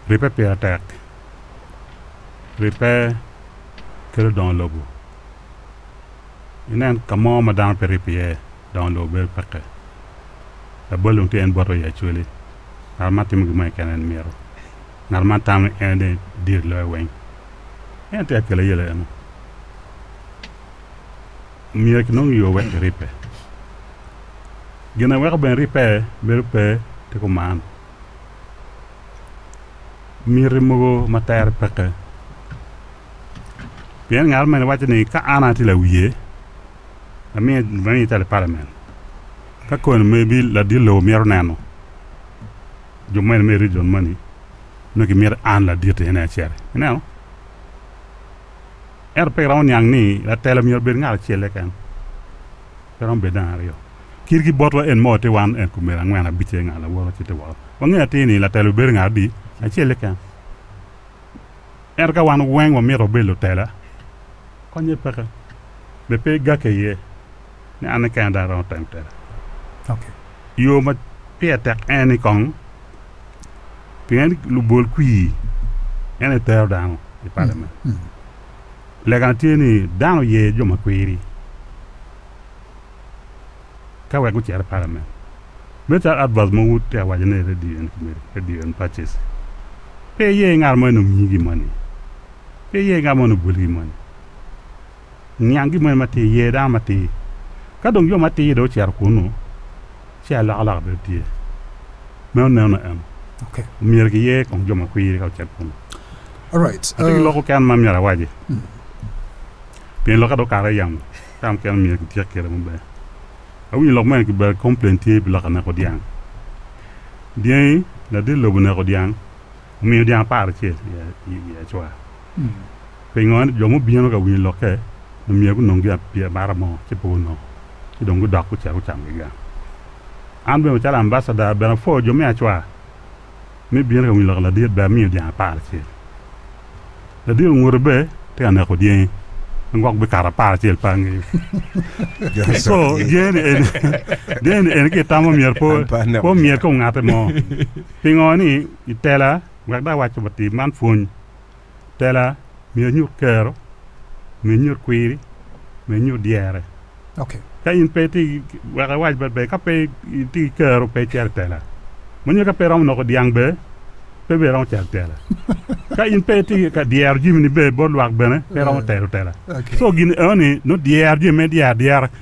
Ribbe pire tek. Ribbe kelo dongo lobo. Inen ka mo ma dano pe ribbe iye, dongo lobo bedo pekke. Labol dong tye en bot wa i Acholi. Ngat man timo gin moni keken en mito. Ngat man tamo ni en aye dir i loyo weng. En tika kelo aye leno? Myero kinong yo wek kiribbe. Gin aweko bene ribbe bedo pe tye kuman. Miti mogo ma tere peke. Pien ngat mene waco ni ka an atye lawiye, amiye amiye calo palamen. Ka koni maybe ladit lobo mito neno jo mene me region moni nongo kimito an laditi ene acel. Ineno? Ento pe iromo niang ni latelo myero obed ngat acel keken. Pe romo bedo dang aryo. Kit ki botwa en mo ti wan en kumene angwen abic aye nga lawoto ci ti woko. Wangeyo atir ni latela bibedo nga adi? Acel-le keken. Ento ka wan weng wamito wabed lutela, konye peke. Be pe igakke iye ni an ni kena dong aromo temo tela? Ok. Yo ma pire tek en ni kong pien lubol kwir en aye tero dano i parliament. Legane tye ni dano oye jo ma kwiri ka wek gucito i Parliament. Me calo advert ma Wood tye ka waco ni Radio and Committee, Radio and Purchase. Pe iye ngat mo ni omiyi gin moni. Pe iye ngat mo ni obwoli gin moni. Niang gin moni matir, ye dano matir. Ka dong jo matir dong ocito kunu, ci alokaloka bene tye. Meno neno en. Okay. Omyero ki ye kong jo ma kwiri ka ocet kunu. Alright. Ati ki uh, loko ken ma myero awaji. Mm. Pien lok ado kare yamo. Ka mukene omyero ki tyek kere maber. Awinyo lok mene ki ber complain tye pi lok aneko dyang. Dyangi ladit lobo neko dyang. Omiyo dyang apar acel i Acwa. Pingo? Ento jo mubino ka winyo lokke ni myero gunong gin abara mo ci pe gunongo, ci dong gudok gucito gucamo gigang. An bene macalo ambacada, bene apwoyo jo me Acwa me bino ka winyo lokke. Ladit bene amiyo dyang apar acel. Ladit onguto be tye ka neko dyengi ma gwok bikato apar acel pe ange. Co dyengi-ni eni ki itamo myero pe omyerki ongate mo. Pingo? I tela wek dong awac wa tim man pwony. Tela myero enyut kero, myero enyut kwiri, myero enyut dyere. Okay. Ka in pe ti wek awac bad be ka pe ti kero pe cer tela. Mo nyo ka pe romo noko dyang be pe be romo cer tela. ka in pe ti ka dyero jimi ni be bot lwak bene pe romo tero tela. Okay. So gini eo ni no dyero jimi me dyero dyera